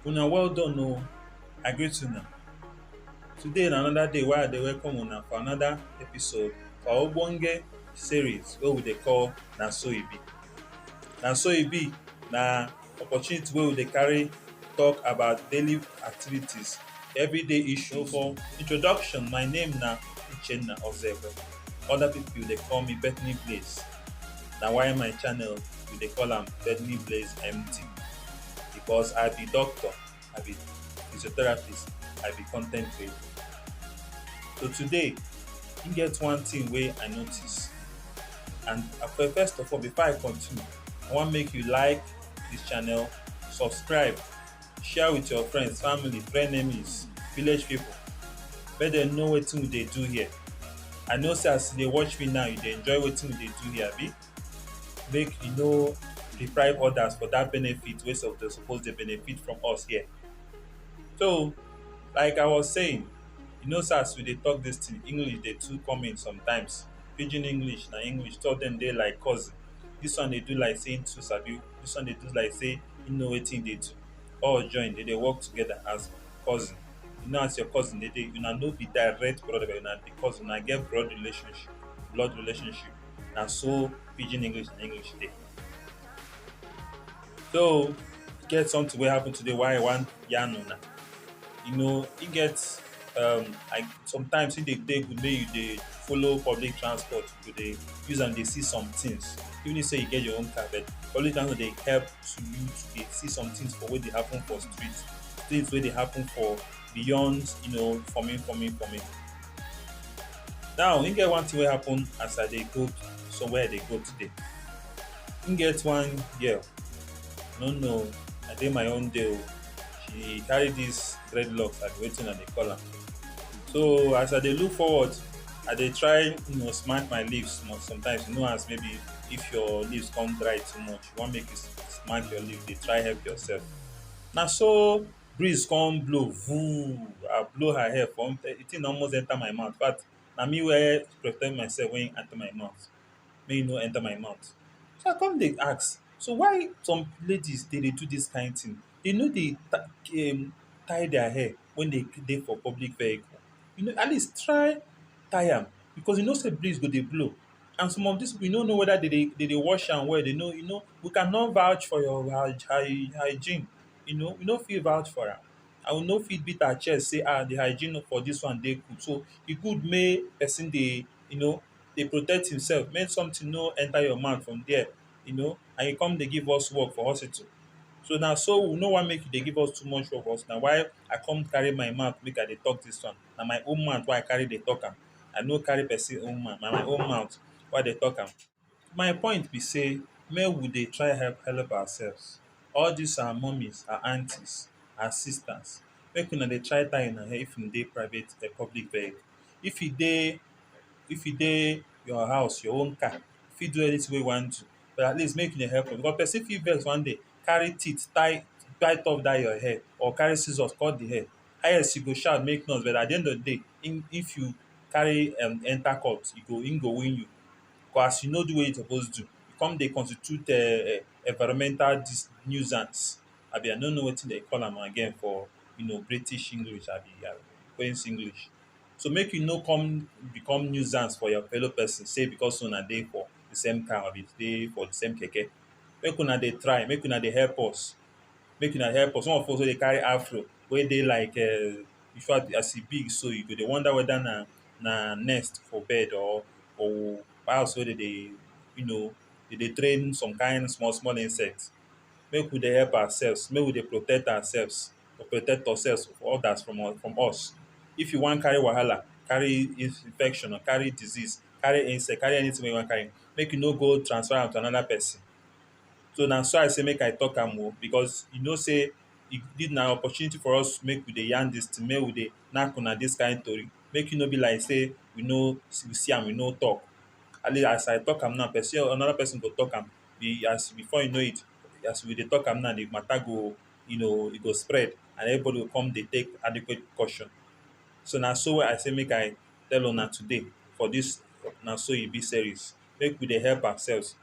Una well done oh, I greet una. Today na another day wey I dey welcome una for another episode for our ogbonge series wey we dey call Na So E Be. Na So E Be na opportunity wey we dey carry talk about daily activities, everyday issues. For introduction, my name na Uchenna Ozekhwem. Other people dey call me Bethany Blaze. na why my channel we dey call am Femi Blaze MD because I be doctor, I be physiotherapist, I be content creator. So today, e get one thing wey I notice and okay, first of all before I continue, I wan make you like this channel, subscribe share with your friends, family, frenemies, village people. Make dem know wetin we dey do here. I know say as you dey watch me now, you dey enjoy wetin we dey do here, abi? Make you no deprive others for that benefit wey sup- dey suppose dey benefit from us here. So, like I was saying, you know say as we dey talk this thing, English dey too come in sometimes. Pidgin English na English, two of them dey like cousin. This one dey do like say him too sabi. Dis one dey do like sey e know wetin e dey do. All join dem dey work together as cousin. You know as your cousin dey take una no be direct brother but una be cousin. Una get blood relationship blood relationship. Na so pidgin English and English take dey. So, e get something wey happen today why I wan yarn una. You know, e get um like sometimes e dey dey good make you dey follow public transport to dey use am dey see some things even if say you get your own car but public transport dey help to you to dey see some things for wey dey happen for street things wey dey happen for beyond you know forming forming forming now e get one thing wey happen as i dey go somewhere i dey go today e get one girl no no i dey my own day o she carry this dreadlocks abi wetin i dey call am so as i dey look forward I dey try you know smack my lips mo- sometimes you know as maybe if your lips come dry too much you wan make you s- smack your lips dey try help yourself na so breeze come blow vooom I blow her hair come di thing almost enter my mouth infact na me wey prepare myself wey enter my mouth make e no enter my mouth so I come dey ask so why some ladies dey dey do this kind thing dey no dey ta- um tie their hair wen dey dey for public vehicle you know at least try tie am because you know sey breeze go dey blow and some of dis pipu you no know weda dey dey dey dey wash am well dey no you no we can not vouch for your hy hy hygiene you no we no fit vouch for am and we no fit beat our chest sey ah de hygiene for dis one dey good so e good make person dey you no dey protect himself make sometin no enter your mouth from there. you know and you come dey give us work for hospital so na so we no wan make you dey give us too much work for hospital na why I come carry my mouth make I dey talk dis one na my own mouth wey I carry dey talk am I no carry person own mouth na my own mouth wey I dey talk am my point be sey make we dey try help help ourselves all dis our mummies our aunties our sisters make una dey try tie una hair if una dey private public vehicle if you dey if you dey your house your own car fit do anything wey e wan do but at least make you dey help am because person fit vex one day carry teeth kpai kpai top dat your hair or carry scissors cut the hair highest you go shout make noise but at the end of the day im if you carry um enter court e go im go win you cos as you no do wetin you suppose do you come dey constitute um environmental dis nuisance abi i no know wetin dem dey call am again for you know British English abi queens English So make you no come become nuisance for your fellow person say because una dey for the same car or dey for the same keke. Make una dey try, make una dey help us. Make una help us. Some of us wey dey carry afro wey dey like um in fact as e be so you go dey wonder whether na na nest for bed or or house wey dem dey you know dey dey train some kind small small insect. Make we dey help ourselves. Make we dey protect ourselves. or protect ourselves or others from us from us. If you wan carry wahala, carry infection or carry disease, carry insect, carry anything wey you wan carry, make you no go transfer am to another person. So na so I say make I talk am o because you know say e good na opportunity for us make we dey yarn this thing, make we dey knack una this kind tori. Make e no be like say we no we see am we no talk. At least as I talk am now person another person go talk am. As before you know it as we dey talk am now the matter go you know e go spread and everybody go come dey take adequate precaution so na so i say make i tell una today for this na so e be series make we dey help ourselves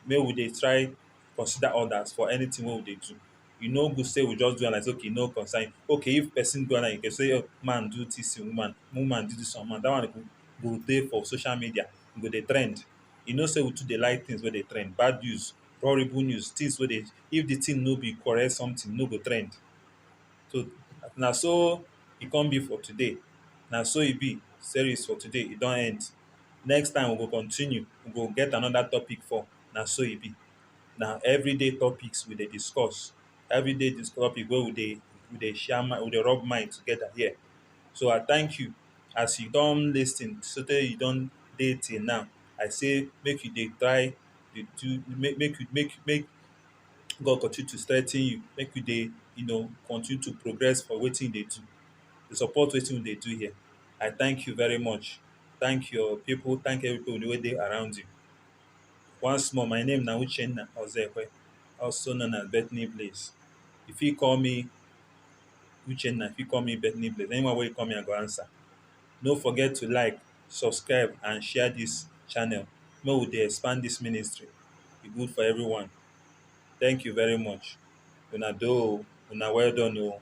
make we dey try consider others for anything wey we dey do e no good say we just do am like say okay e no concern you okay if person do am like you say man do this thing woman woman do this one man that one go go dey for social media e go dey trend you know say we too dey like things wey dey trend bad news horrible news, things wey dey if the thing no be correct something, e no go trend. So na so e come be for today. Na so e be series for today, e don end. Next time we go continue, we go get another topic for na so e be. Na everyday topics we dey discuss. Everyday dis topic wey we dey we dey share mind we dey rub mind together here. So I thank you as you don lis ten sotey you don dey till now. I say make you dey try dey do make make you make make God continue to strengthen you make you dey you know continue to progress for wetin you dey do to support wetin we dey do here I thank you very much thank your people thank everybody wey dey around you once more my name na Uchenna Ozekwe also known as Bethany Blaze you fit call me Uchenna you fit call me Bethany Blaze anyone wey you call me I go answer no forget to like subscribe and share this channel make we dey expand this ministry e good for everyone thank you very much una do o una well done o